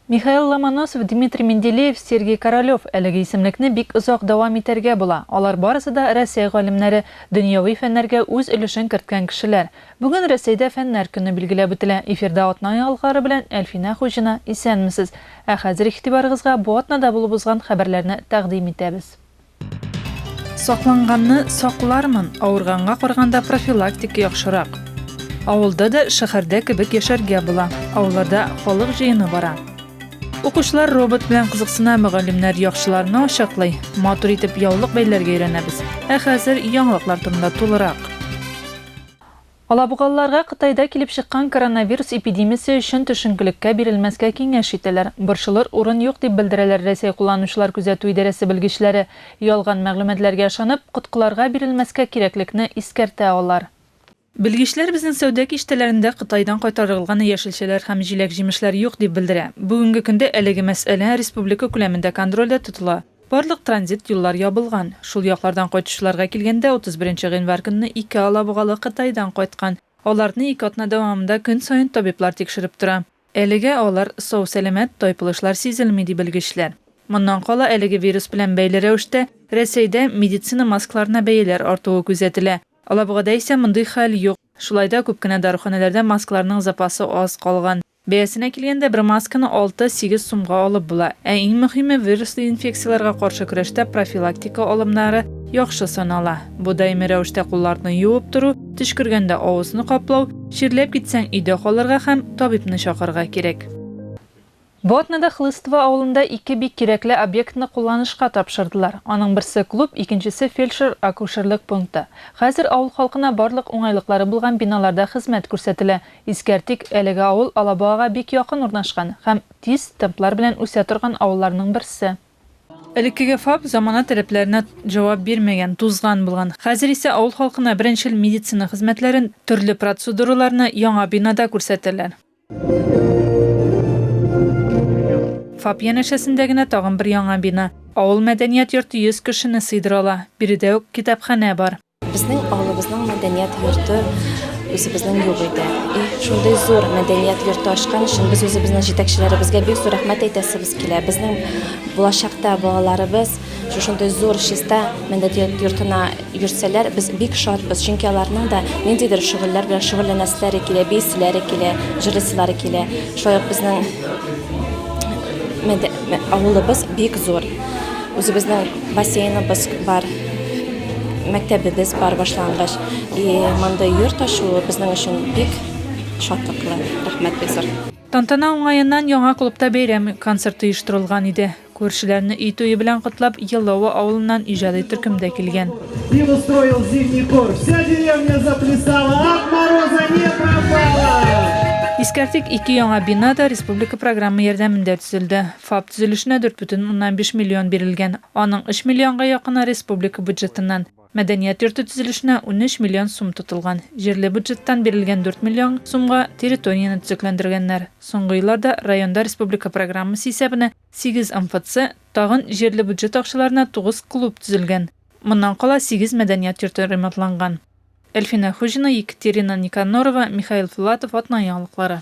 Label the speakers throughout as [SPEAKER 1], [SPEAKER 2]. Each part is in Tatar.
[SPEAKER 1] Михаил Ломоносов, Дмитрий Менделеев, Сергей Королев әлеге исемлекне бик озак дәвам итәргә була. Алар барысы да Рәсәй галимнәре, дөньяви фәннәргә үз өлешен керткән кешеләр. Бүген Рәсәйдә Фәннәр көне билгеләп үтелә. Эфирда атна яңалыклары белән Әлфинә Хуҗина, исәнмесез! Ә хәзер игътибарыгызга бу атнада булып узган хәбәрләрне тәкъдим итәбез. Сакланганны саклармын, авырганга карганда профилактика яхшырак. Авылда да шәһәрдә кебек яшәргә була. Авылларда халык җыены бара. Укучылар робот белән кызыксына, мөгаллимнәр яхшыларны ачаклый. Матур итеп яулык бәйләргә өйрәнәбез. Ә хәзер яңалыклар турында тулырак. Алабугалыларга Кытайда килеп чыккан коронавирус эпидемиясе өчен төшенкелеккә бирелмәскә киңәш итәләр. Борчылыр урын юк, дип белдерәләр Рәсәй кулланучылар күзәтү идарәсе белгечләре. Ялган мәгълүматларга ышанып, коткыларга бирелмәскә кирәклекне искәртә алар. Белгечләр безнең сәүдә киштәләрендә Кытайдан кайтарылган яшелчәләр һәм җиләк-җимешләр юк, дип белдерә. Бүгенге көндә әлеге мәсьәлә республика күләмендә контрольдә тотыла. Барлык транзит юллар ябылган. Шул яклардан кайтучыларга килгәндә, 31 гыйнвар көнне ике алабугалы Кытайдан кайткан. Аларны ике атна дәвамында көн саен табиблар тикшереп тора. Әлегә алар сау-сәламәт, тайпылышлар сизелми, ди белгечләр. Моннан кала әлеге вирус белән бәйле рәвештә Рәсәйдә медицина маскларына бәяләр артуы күзәтелә. Алабугада исә мондый хәл юк. Шулай да күп кенә даруханәләрдә маскларның запасы аз калган. Бәясенә килгәндә, бер масканы алты, сигез сумга алып була. Ә иң мөһиме, вируслы инфекцияләргә каршы көрәштә профилактика алымнары яхшы санала. Бу даими рәвештә кулларны юып тору, төчкергәндә авызны каплау, чирләп китсәң, өйдә калырга һәм табибны чакырырга кирәк. Бу атнада Хлыстово авылында ике бик кирәкле объектны кулланышка тапшырдылар. Аның берсе, клуб, икенчесе, фельдшер-акушерлык пункты. Хәзер авыл халкына барлык уңайлыклары булган биналарда хезмәт күрсәтелә. Искәртик, әлеге авыл Алабугага бик якын урнашкан һәм тиз темплар белән үсә торган авылларның берсе. Элеккеге ФАП замана таләпләренә җавап бирмәгән, тузган булган. Хәзер исә авыл халкына беренчел медицина хезмәтләрен, төрле процедураларны яңа бинада күрсәтәләр. ФАП янәшәсендә генә тагын бер яңа бина, авыл мәдәният йорты 100 кешене сыйдыра ала, биредә үк китапханә бар. Безнең авылыбызның
[SPEAKER 2] мәдәният йорты үзебезнең юк иде. И шундый зур мәдәният йорты ачкан өчен без үзебезнең җитәкчеләребезгә бик зур рәхмәт әйтәсебез килә. Безнең булачакта балаларыбыз шушындый зур чиста мәдәният йортына йөрсәләр, без бик шатбыз, чөнки аларның да ниндидер шөгыльләр белән шөгыльләнәселәре килә, бияселәре килә, җырлыйсылары килә. Шулай ук безнең авылыбыз бик зур. Үзебезнең Бассейныбыз бар, мәктәбебез бар башлангыч. И мондый йорт ачуы безнең өчен бик шатлыклы. Рәхмәт, Бекзар. Тантана уңаеннан
[SPEAKER 1] яңа клубта бәйрәм концерты оештырылган иде. Күршеләрне өй туе белән котлап, Еллавы авылыннан иҗади төркем дә килгән. Пил устроил
[SPEAKER 3] зимний хор. Вся деревня заплясала, от мороза не пропала! Искәртик,
[SPEAKER 1] ике яңа бина да республика програмы ярдәмендә төзелде. ФАП төзелешенә 4,5 миллион бирелгән, аның 3 миллионга якыны республика бюджетыннан. Мәдәният йорты төзелешенә 13 миллион сум тотылган. Җирле бюджеттан бирелгән 4 миллион сумга территорияне төзекләндергәннәр. Соңгы елларда районда республика программасы исәбенә сигез МФЦ, тагын җирле бюджет акчаларына тугыз клуб төзелгән. Моннан кала сигез мәдәният йорты ремонтланган. Әлфинә Хуҗина, Екатерина Никанорова, Михаил Филатов, Атна яңалыклары.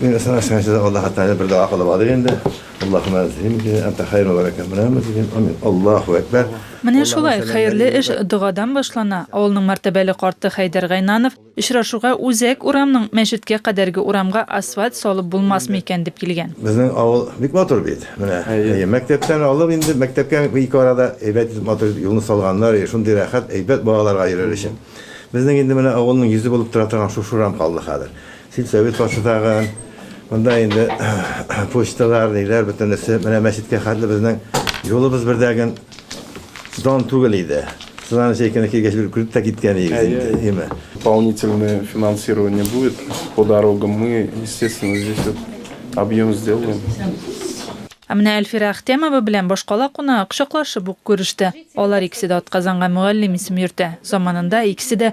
[SPEAKER 1] Мин СМС кенә
[SPEAKER 4] сиздә Аллаһ Тәгалә бер дога кылып алыйк инде. Аллаһума зим ди, анта хәйру ва ләкә мәрәмә дигән. Амин. Аллаһу әкбәр. Менә шулай,
[SPEAKER 1] хәерле эш догадан башлана, авылның мәртәбәле карты Хәйдәр Гайнанов, очрашуга үзәк урамның мәчеткә кадәрге урамга асфальт салып булмасмы икән дип килгән. Безнең авыл бик
[SPEAKER 4] матур бит. Менә, әйе, мәктәптән алып инде, мәктәпкә ике арада әйбәт итеп матур итеп юлны салганнар, әйе, шундый рәхәт, әйбәт балаларга йөрер өчен. Безнең инде менә авылның йөзе булып тора торган шушы урам калды хәзер. Сельсовет башлаган, монда инде почталар, ниләр, бөтенесе, менә мәчеткә хәтле безнең юлыбыз бер дә генә дан түгел иде. Сынаны чәйкәне килгәч, бер күреп тә киткән идек инде, әйеме? Дополнительное
[SPEAKER 5] финансирование будет по дорогам, мы, естественно, здесь вот объем сделаем. Ә менә
[SPEAKER 1] Әлфирә Әхтямова белән башкала кунагы кочаклашып ук күреште. Алар икесе дә атказанга мөгаллим исем йөртә. Заманында икесе дә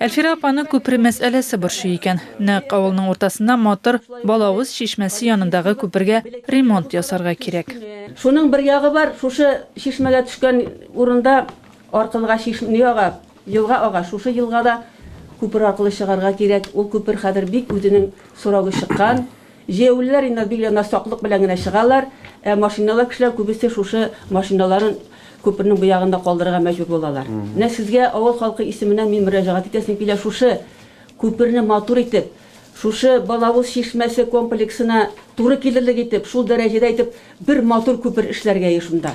[SPEAKER 6] Әлфирә
[SPEAKER 1] апаны күпер мәсьәләсе борчый икән. Нәкъ авылның уртасында матур Балавыз чишмәсе янындагы күпергә ремонт ясарга кирәк. Шуның бер ягы
[SPEAKER 6] бар, шушы чишмәгә төшкән урында аркылга чиш не ага, елга ага. Шушы елгада күпер аркылы чыгарга кирәк. Ул күпер хәзер бик үзенең сорогы чыккан. Җәяүлеләр инде бик янә саклык белән генә чыгалар, ә машиналар, кешеләр күбесе шушы машиналарын күпернең бу ягында калдырырга мәҗбүр булалар. Менә сезгә авыл халкы исеменнән мин мөрәҗәгать итәсем килә, шушы күперне матур итеп, шушы Балавыз чишмәсе комплексына туры килерлек итеп, шул дәрәҗәдә итеп бер матур күпер эшләргә еш монда.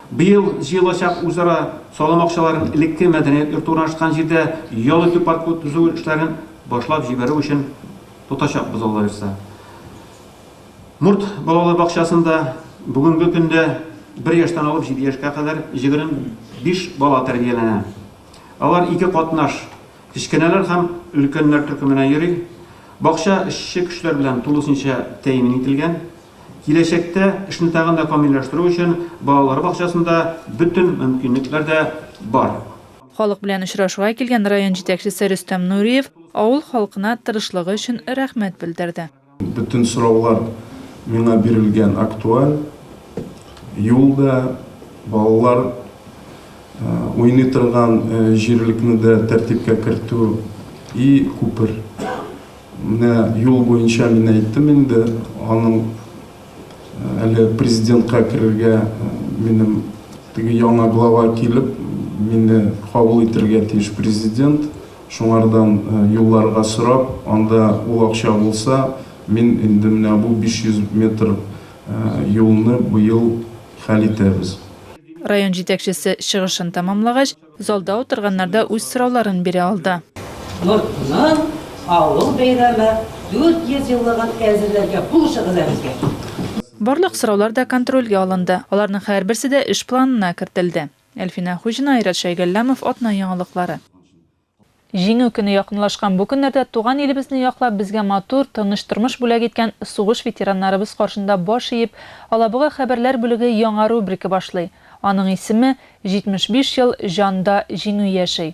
[SPEAKER 1] Быел җыелачак
[SPEAKER 7] үзара салым акчаларын элекке мәдәният йорты урнашкан җирдә ял итү паркы төзү эшләрен башлап җибәрү өчен тотачакбыз, Аллабирса. Мурт балалар бакчасында бүгенге көндә бер яшьтән алып җиде яшькә кадәр җегерме биш бала тәрбияләнә. Алар ике катнаш, кечкенәләр һәм өлкәннәр төркеменә йөри. Бакча эшче көчләр белән тулысынча тәэмин ителгән. Киләчәктә эшне тагын да камилләштерү өчен балалар бакчасында бөтен мөмкинлекләр дә бар. Халык белән
[SPEAKER 1] очрашуга килгән район җитәкчесе Рөстәм Нуриев авыл халкына тырышлыгы өчен рәхмәт белдерде. Бөтен сораулар
[SPEAKER 5] миңа бирелгән, актуаль. Юл да, балалар уйный торган җирлекне дә тәртипкә кертү и күпер. Менә юл буенча мин әйттем инде, аның әле президентка керергә минем теге яңа глава килеп, мине кабул итергә тиеш президент. Шуңардан юлларга сорап, анда ул акча булса, мин инде менә бу 500 метр юлны быел хәл итәбез. Район
[SPEAKER 1] җитәкчесе чыгышын тәмамлагач, Залда утырганнар да үз сорауларын бирә алды. Йортның
[SPEAKER 8] авыл бәйрәме 400 еллыгын әзерләргә булышыгыз ә безгә. Барлык
[SPEAKER 1] сораулар да контрольгә алынды, аларның һәрберсе дә эш планына кертелде. Әлфинә Хуҗина, Айрат Шәйгалләмов, Атна яңалыклары. Җиңү көне якынлашкан бу көннәрдә туган илебезне яклап, безгә матур, тыныч тормыш бүләк иткән сугыш ветераннарыбыз каршында баш иеп, Алабуга хәбәрләр бүлеге яңа рубрика башлый. Аның исеме, 75 ел җанда Җиңү яши.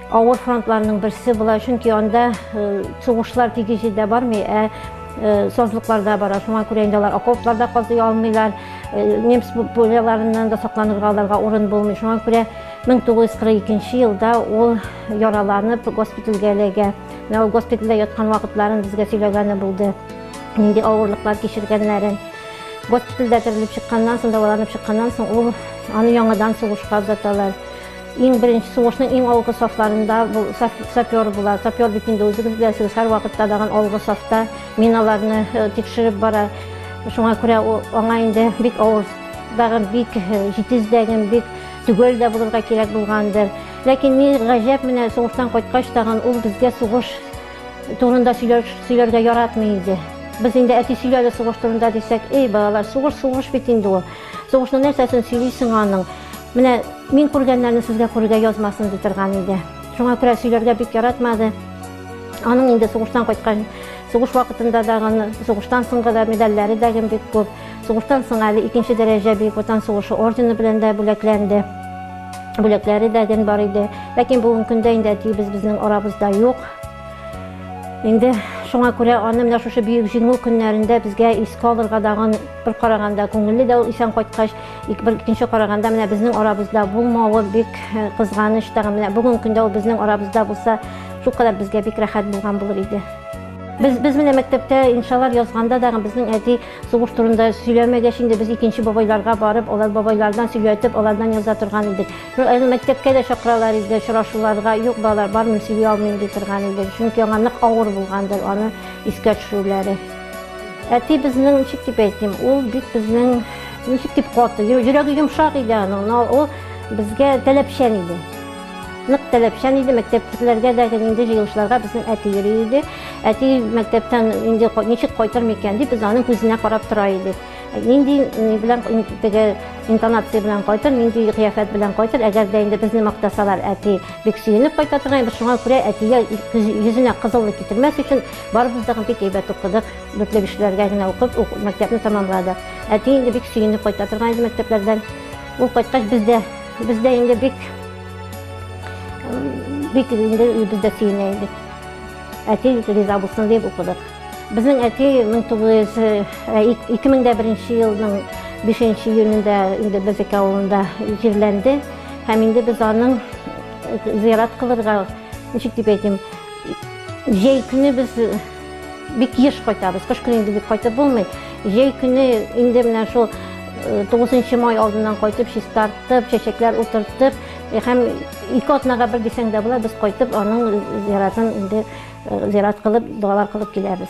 [SPEAKER 9] Авыр фронтларның берсе була, чөнки анда сугышлар тиге җирдә бармый, ә сазлыкларда бара. Шуңа күрә инде алар окопларда казый алмыйлар. Немс пуляларыннан да сакланырга аларга урын булмый. Шуңа күрә 1942 елда ул яраланып госпитальгә эләгә. Менә ул госпитальдә яткан вакытларын безгә сөйләгәне булды. Нинди авырлыклар кичергәннәрен. Госпитальдә терелеп чыкканнан соң, дәваланып чыкканнан соң ул аны яңадан сугышка озаталар. Иң беренче сугышның иң алгы сафларында бул, сап, сапер була. Сапер бит инде үзегез беләсегез, һәрвакытта даган алгы сафта миналарны э, тикшереп бара. Шуңа күрә аңа инде бик авыр даган бик э, җитез дәген бик төгәл дә булырга кирәк булгандыр. Ләкин ни гаҗәп менә сугыштан кайткач тагын ул безгә сугыш турында сөйләргә яратмый иде. Без инде әти сөйләде сугыш турында дисәк, эй балалар, сугыш сугыш бит инде ул. Сугышның нәрсәсен сөйлисең аның? Менә мин күргәннәрне сезгә күрергә язмасын ди торган иде. Шуңа күрә сөйләргә бик яратмады. Аның инде сугыштан кайткан, сугыш вакытында да, сугыштан соңгы да медальләре дә бик күп. Сугыштан соң әле икенче дәрәҗә Бөек Ватан сугышы ордены белән дә бүләкләнде. Бүләкләре дә гел бар иде. Ләкин бүгенге көндә инде әтиебез безнең арабызда юк. Инде шуңа күрә аны менә шушы бөек җиңү көннәрендә безгә искә алырга дагын Бер караганда күңелле дә ул исән кайткач, бер икенче караганда менә безнең арабызда булмавы бик э, кызганыч тагын. Менә бүгенге көндә ул безнең арабызда булса, шул кадәр безгә бик рәхәт булган булыр иде. Без без менә мәктәптә иншалар язганда да безнең әти сугыш турында сөйләмәгәч инде без икенче бабайларга барып, алар бабайлардан сөйләтеп, алардан яза торган идек. Ну, әле мәктәпкә дә чакыралар иде, очрашуларга, юк балалар, бармыйм, сөйли алмыйм ди торган иде. Чөнки аңа нык авыр булгандыр аны искә төшерүләре. Әти безнең, ничек дип әйтим, ул бик безнең, ничек дип каты, йөрәге йомшак иде аның, но ул безгә таләпчән иде. Нык таләпчән иде, мәктәптәгеләргә дә инде җыелышларга безнең әти йөри иде. Әти мәктәптән инде ничек кайтыр микән дип, без аның күзенә карап тора идек. Нинди белән теге интонация белән кайтыр, нинди кыяфәт белән кайтыр, әгәр дә инде безне мактасалар, әти бик сөенеп кайта торган, без шуңа күрә әтигә йөзенә кызыллык китермәс өчен Барыбыз да бик әйбәт укыдык, дүртле кешеләргә генә укып, мәктәпне тәмамладык. Әти инде бик сөенеп кайта торган иде мәктәпләрдән. Ул кайткач без дә, без дә инде бик бик инде без дә сөенә идек. Әти риза булсын дип укыдык. Безнең әти 2001 елның 5 июнендә инде Безек авылында җирләнде һәм инде без аның зыярат кылырга, ничек дип әйтим, Җәй көне без бик еш кайтабыз. Кыш көне инде бик кайтып булмый. Җәй көне инде менә шул 9 май алдыннан кайтып, чистартып, чәчәкләр утыртып, һәм ике атнага бер дисәң дә була, без кайтып аның зиратын инде зират кылып, дуалар кылып киләбез.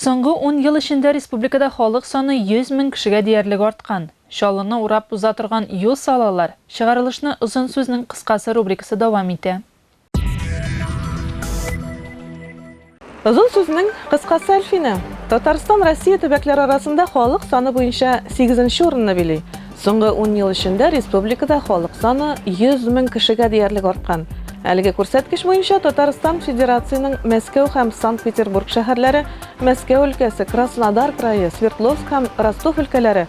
[SPEAKER 1] Соңгы ун ел эчендә республикада халык саны 100 мең кешегә диярлек арткан. Чаллыны урап уза торган юл салалар, чыгарылышны озын сүзнең кыскасы рубрикасы дәвам итә.
[SPEAKER 10] Озын сүзнең кыскасы Әлфинә. Татарстан Россия төбәкләре арасында халык саны буенча 8 урынны били. Соңгы 10 ел эчендә республикада халык саны 100 мең кешегә диярлек арткан. Әлеге күрсәткеч буенча Татарстан Федерацияның Мәскәү һәм Санкт-Петербург шәһәрләре, Мәскәү өлкәсе, Краснодар крае, Свердловск һәм Ростов өлкәләре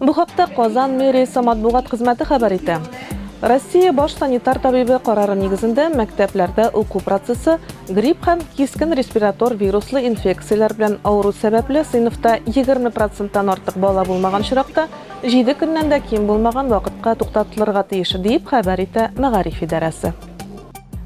[SPEAKER 10] Бу хакта Казан мэриясе матбугат хезмәте хәбәр итә. Россия баш санитар табибы карары нигезендә мәктәпләрдә уку процессы грипп һәм кискен респиратор вируслы инфекцияләр белән авыру сәбәпле сыйныфта 20 проценттан артык бала булмаган очракта җиде көннән дә ким булмаган вакытка туктатылырга тиеш, диеп хәбәр итә мәгариф идарәсе.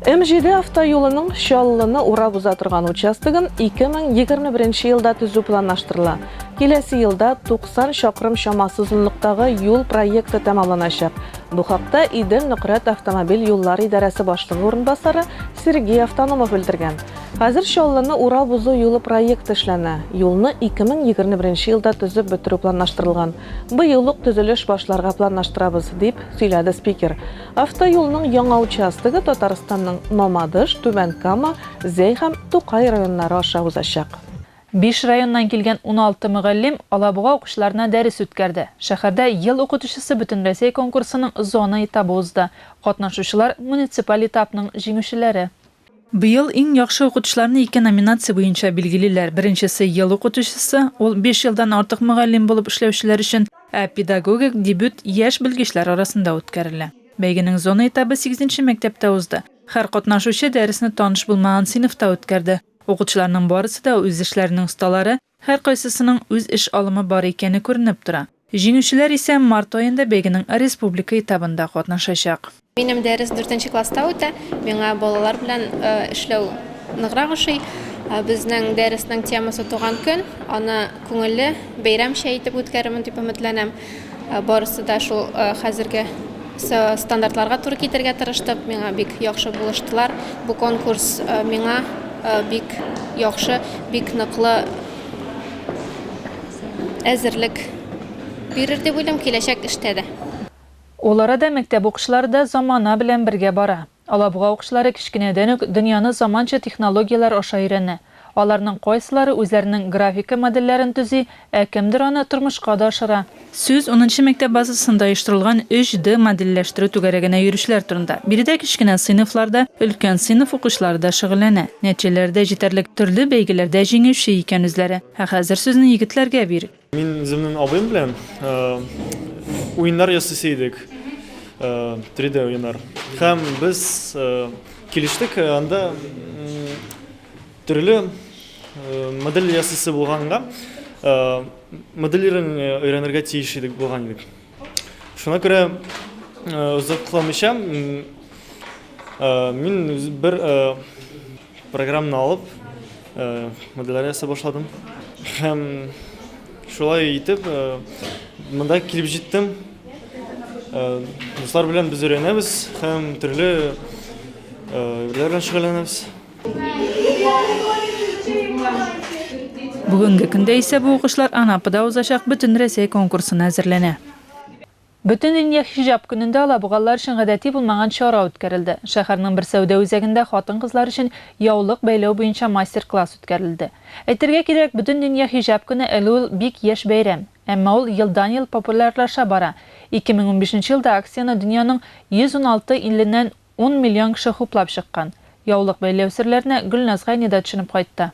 [SPEAKER 10] М7 автоюлының Чаллыны урап уза торган участогын 2021 елда төзү планлаштырыла. Киләсе елда 90 чакрым чамасы озынлыктагы юл проекты тәмамланачак. Бу хакта Идел Нократ автомобиль юллар идарәсе башлыгы урынбасары Сергей Автономов белдергән. Хәзер Чаллыны урап узу юлы проекты эшләнә. Юлны 2021 елда төзеп бетерү планлаштырылган. Быел ук төзелеш башларга планлаштырабыз, дип сөйләде спикер. Автоюлның яңа участогы Татарстанның Мамадыш, Түбән Кама, Зәй һәм Тукай районнары аша узачак. Биш
[SPEAKER 1] районнан килгән уналты мөгаллим Алабуга укучыларына дәрес үткәрде. Шәһәрдә Ел укытучысы бөтенрәсәй конкурсының зона этабы узды. Катнашучылар, муниципаль этапның җиңүчеләре. Быел иң яхшы укытучыларны ике номинация буенча билгелиләр, беренчесе, ел укытучысы, ул биш елдан артык мөгаллим булып эшләүчеләр өчен, ә педагогик дебют яшь белгечләр арасында үткәрелә. Бәйгенең зона этабы сигезенче мәктәптә узды. Һәр катнашучы дәресне таныш булмаган сыйныфта үткәрде. Укытучыларның барысы да үз эшләренең осталары, Һәркайсысының үз эш алымы бар икәне күренеп тора. Җиңүчеләр исә март аенда бәйгенең республика этабында катнашачак. Минем дәрес
[SPEAKER 2] дүртенче класста үтә. Миңа балалар белән эшләү ныграк ошый. Безнең дәреснең темасы Туган көн. Аны күңелле, бәйрәмчә итеп үткәрермен дип өметләнәм. Барысы да шул хәзерге стандартларга туры китергә тырыштык. Миңа бик яхшы булыштылар. Бу конкурс миңа бик яхшы, бик ныклы әзерлек бирер дип уйлыйм, киләчәк эштә дә. Ул арада
[SPEAKER 1] мәктәп укучылары да замана белән бергә бара. Алабуга укчылары кечкенәдән үк дөньяны заманча технологияләр аша өйрәнә. Аларның кайсылары үзләренең графика модельләрен төзи, ә кемдер аны тормышка да ашыра. Сүз унынчы мәктәп базасында оештырылган 3D модельләштерү түгәрәгенә йөрүчеләр турында. Биредә кечкенә сыйныфлар да, өлкән сыйныф укучылары да шөгыльләнә. Нәтиҗәләре дә җитәрлек, төрле бәйгеләрдә җиңүче икән үзләре. Ә хәзер сүзне егетләргә бир. Мин үземнең абыем
[SPEAKER 11] белән уеннар ясыйсы идек. 3D э, уеннар. Һәм без э, килештек, э, анда төрле модель ясыйсы булганга, моделирен өйрәнергә тиеш идек булган идек. Шуна күрә озакламыйча мин бер Програмны алып, моделлар ясап башладым. Һәм шулай итеп, монда килеп җиттем. Дуслар белән без өйрәнәбез һәм төрле эшләр белән шөгыльләнәбез.
[SPEAKER 1] Бүгенге көндә исә бу укышлар Анапада узачак Бөтенрәсәй конкурсына әзерләнә. Бөтендөнья хиҗаб көнендә алабугалылар өчен гадәти булмаган чара үткәрелде. Шәһәрнең бер сәүдә үзәгендә хатын-кызлар өчен яулык бәйләү буенча мастер-класс үткәрелде. Әйтергә кирәк, Бөтендөнья хиҗаб көне әле ул бик яшь бәйрәм. Әмма ул елдан-ел популярлаша бара. 2015 нче елда акцияне дөньяның 116 иленнән ун миллион кеше хуплап чыккан. Яулык бәйләү серләренә Гөлназ Гайни да төшенеп кайтты.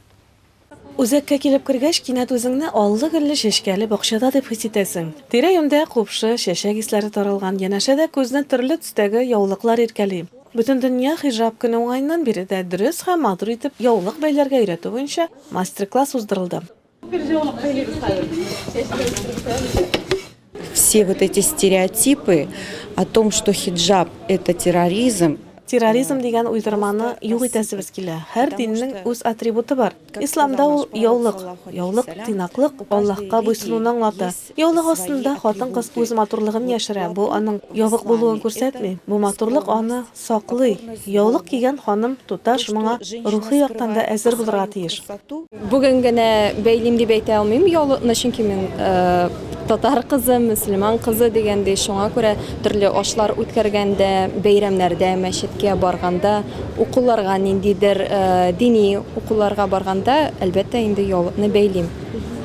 [SPEAKER 1] Үзәккә
[SPEAKER 10] килеп кергәч, кинәт үзеңне аллы-гөлле чәчкәле бакчада дип хис итәсең. Тирә-юньдә купшы, чәчәк исләре таралган, янәшәдә күзне төрле төстәге яулыклар иркәли. Бөтендөнья хиҗаб көне уңаеннан биредә дөрес һәм матур итеп яулык бәйләргә өйрәтү буенча мастер-класс уздырылды.
[SPEAKER 12] Все вот эти стереотипы о том, что хиджаб – это терроризм, Терроризм дигән
[SPEAKER 10] уйдырманы юк итәсебез килә. Һәр диннең үз атрибуты бар. Исламда ул яулык. Яулык, тыйнаклык, Аллаһка буйсынуны аңлата. Яулык астында хатын-кыз үз матурлыгын яшерә. Бу аның ябык булуын күрсәтми. Бу матурлык аны Саклый. Яулык кигән ханым, туташ, моңа рухи яктан да әзер булырга тиеш. Бүген генә
[SPEAKER 2] бәйлим дип әйтә алмыйм яулыкны, чөнки мин татар кызы, мөселман кызы дигәндәй, шуңа күрә төрле ашлар үткәргәндә, бәйрәмнәрдә, мәчеткә барганда, укуларга, ниндидер дини укуларга барганда, әлбәттә инде яулыкны бәйлим.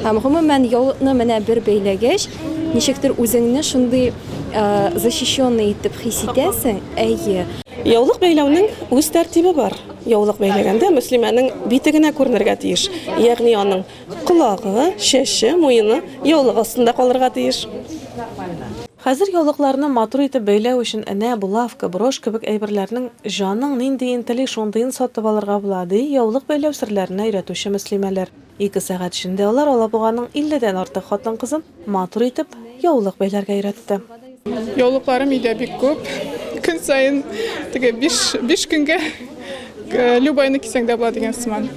[SPEAKER 2] Һәм гомумән яулыкны менә бер бәйләгәч, ничектер үзеңне шундый, Защищенный итеп хис итәсең? Әйе. Яулык
[SPEAKER 10] бәйләүнең үз тәртибе бар. Яулык бәйләгәндә мөслимәнең бите генә күренергә тиеш. Ягъни аның колагы, чәче, муены яулык астында калырга тиеш. Хәзер яулыкларны матур итеп бәйләү өчен энә, булавка, брошь кебек әйберләрнең җаның нинди интели, шундыен сатып алырга була, ди яулык бәйләү серләренә өйрәтүче мөслимәләр. Ике сәгать эчендә алар Алабуганың илледән артык хатын-кызын матур итеп яулык бәйләргә өйрәтте. Яулыкларым
[SPEAKER 13] өйдә бик күп. Көн саен теге биш, биш көнгә любойны кисәң дә була дигән сыман.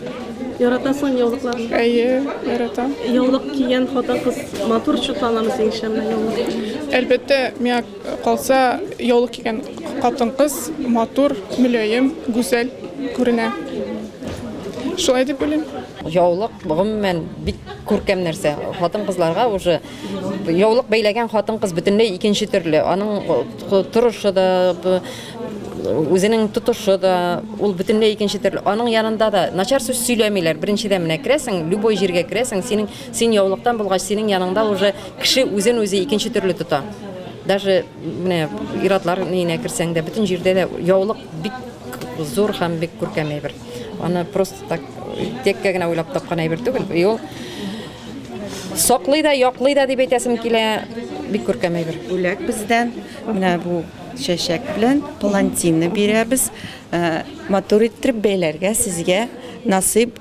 [SPEAKER 13] Яратасыңмы
[SPEAKER 10] яулыкларны? Әйе, яратам.
[SPEAKER 13] Яулык кигән
[SPEAKER 10] хатын-кыз матур чутланамы синеңчә менә яулык? Әлбәттә,
[SPEAKER 13] миңа Калса, яулык кигән хатын-кыз матур, мөлаем, гүзәл күренә. Шулай дип уйлыйм. Яулык,
[SPEAKER 14] гомумән, бик күркәм нәрсә. Хатын-кызларга уже яулык бәйләгән хатын-кыз бөтенләй икенче төрле. Аның торышы да, үзенең тотышы да, ул бөтенләй икенче төрле. Аның янында да начар сүз сөйләмиләр. Беренчедән, менә керәсең, любой җиргә керәсең, синең Син яулыктан булгач, синең яныңда уже кеше үзен үзе икенче төрле тота. Даже менә иратлар нигенә керсәң дә, бөтен җирдә дә яулык бик зур һәм бик күркәм әйбер. Аны просто так теккә генә уйлап тапкан әйбер түгел. И ул
[SPEAKER 12] саклый
[SPEAKER 14] да, яклый да дип әйтәсем
[SPEAKER 12] килә.
[SPEAKER 14] Бик күркәм
[SPEAKER 12] әйбер.
[SPEAKER 14] Бүләк бездән
[SPEAKER 12] менә
[SPEAKER 14] бу
[SPEAKER 12] чәчәк белән палантинны бирәбез. Э, матур иттереп бәйләргә сезгә насыйп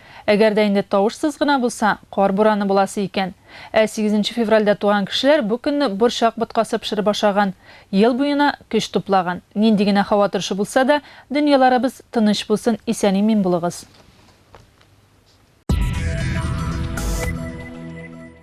[SPEAKER 1] Әгәр дә инде тавышсыз гына булса, кар бураны буласы икән. Ә сигезенче февральдә туган кешеләр бу көнне борчак боткасы пешереп ашаган, ел буена көч туплаган. Нинди генә һава торышы булса да, дөньяларыбыз тыныч булсын, исән-имин булыгыз!